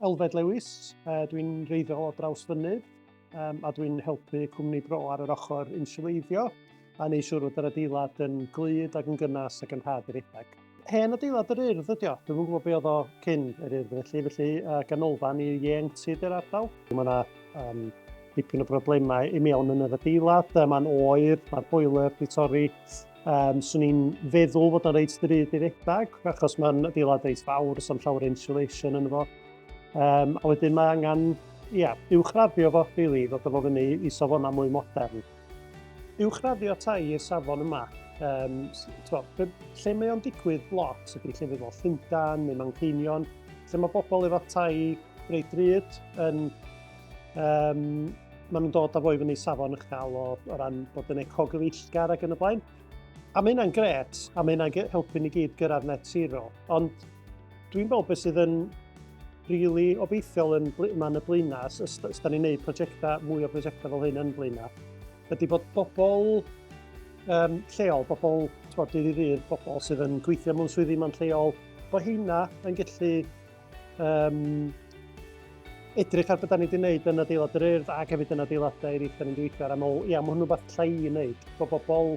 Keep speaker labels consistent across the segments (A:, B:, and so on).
A: Elfed Lewis, uh, dwi'n reiddiol o draws fynydd um, a dwi'n helpu cwmni bro ar yr ochr inswleiddio a neu siŵr fod yr adeilad yn glyd ac yn gynnas ac yn rhad i redeg. Hen adeilad yr urdd ydi o, dwi'n gwybod be oedd o cyn yr urdd felly, felly uh, ganolfan i ieuenctid yr ardal. Mae yna um, dipyn o broblemau i mewn yn yr adeilad, mae'n oer, mae'r boiler di torri, Um, swn i'n feddwl fod o'n reit ddrud i redag, achos mae'n adeilad reit fawr, so'n llawer insulation yn fo. Um, a wedyn mae angen, ia, yeah, uwchraddio fo, really, fod o fo fyny i safonau mwy modern. Uwchraddio tai i'r safon yma, um, to, lle mae o'n digwydd lot ydy lle fe fo Llundan neu Manceinion, lle mae bobl efo tai reit drud yn Um, maen nhw'n dod â fo i fyny safon eich gael o, o ran bod yn ecogyfeillgar ac yn y blaen. A mae hynna'n gret, a mae hynna'n helpu ni gyd gyrraedd net zero. Ond dwi'n meddwl beth sydd yn rili obeithiol yn ma'n y blaenau, os da ni'n gwneud prosiectau, mwy o brosiectau fel hyn yn blaenau, ydy bod bobl um, lleol, bobl, ti'n bod, dydd i ddydd, bobl sydd yn gweithio mewn swyddi ma'n lleol, bod hynna yn gallu um, edrych ar beth da ni wedi gwneud yn adeilad yr urdd ac hefyd yn adeiladau eraill da ni'n gweithio ar amol. Ia, mae hwnnw beth lle i wneud, bod bobl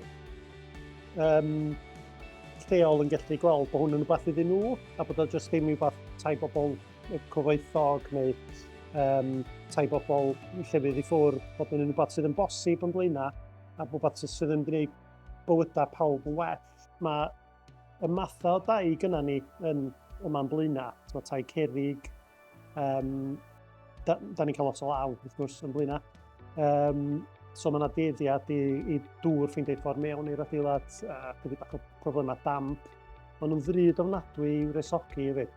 A: um, lleol yn gallu gweld bod hwnnw'n rhywbeth iddyn nhw a bod o jyst ddim i fath tai bobl cyfoethog neu um, tai bobl llefydd i ffwrdd, bod yn rhywbeth sydd yn bosib yn blaenau a bod rhywbeth sydd yn gwneud bywydau pawb yn well. Mae Y mathau o dai gyda ni yn y man blaenau, so, tai cerig, um, da, da ni'n cael lot o law, wrth gwrs, yn blaenau. Um, so mae yna deddiad i, i dŵr ffeindio ei ffordd mewn i'r adeilad, a chydig bach o problemau damp. Maen nhw'n ddrud ofnadwy i'w resogi hefyd.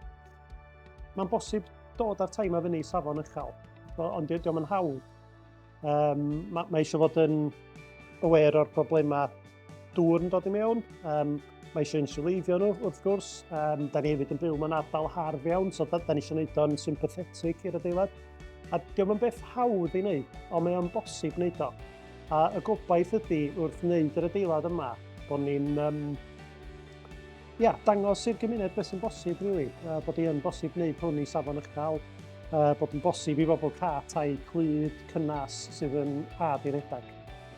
A: Mae'n bosib dod â'r tai mae fyny i safon uchel, ond diolch yn hawdd. Um, mae, mae eisiau fod yn aware o'r problemau Dŵr yn dod i mewn, um, mae eisiau insuleiddio nhw wrth gwrs. Um, da ni hefyd yn byw mewn ardal harf iawn, so da, da ni eisiau gwneud o'n sympathetig i'r adeilad. A diolch yn beth hawdd i wneud, ond mae o'n bosib wneud o. A y gobaith ydy wrth wneud yr adeilad yma, bod ni'n um, ia, dangos i'r gymuned beth sy'n bosib, really. Uh, bod i'n bosib wneud hwn i safon uchel, uh, bod yn bosib i bobl cael tai clyd, cynnas sydd yn rhad i redag.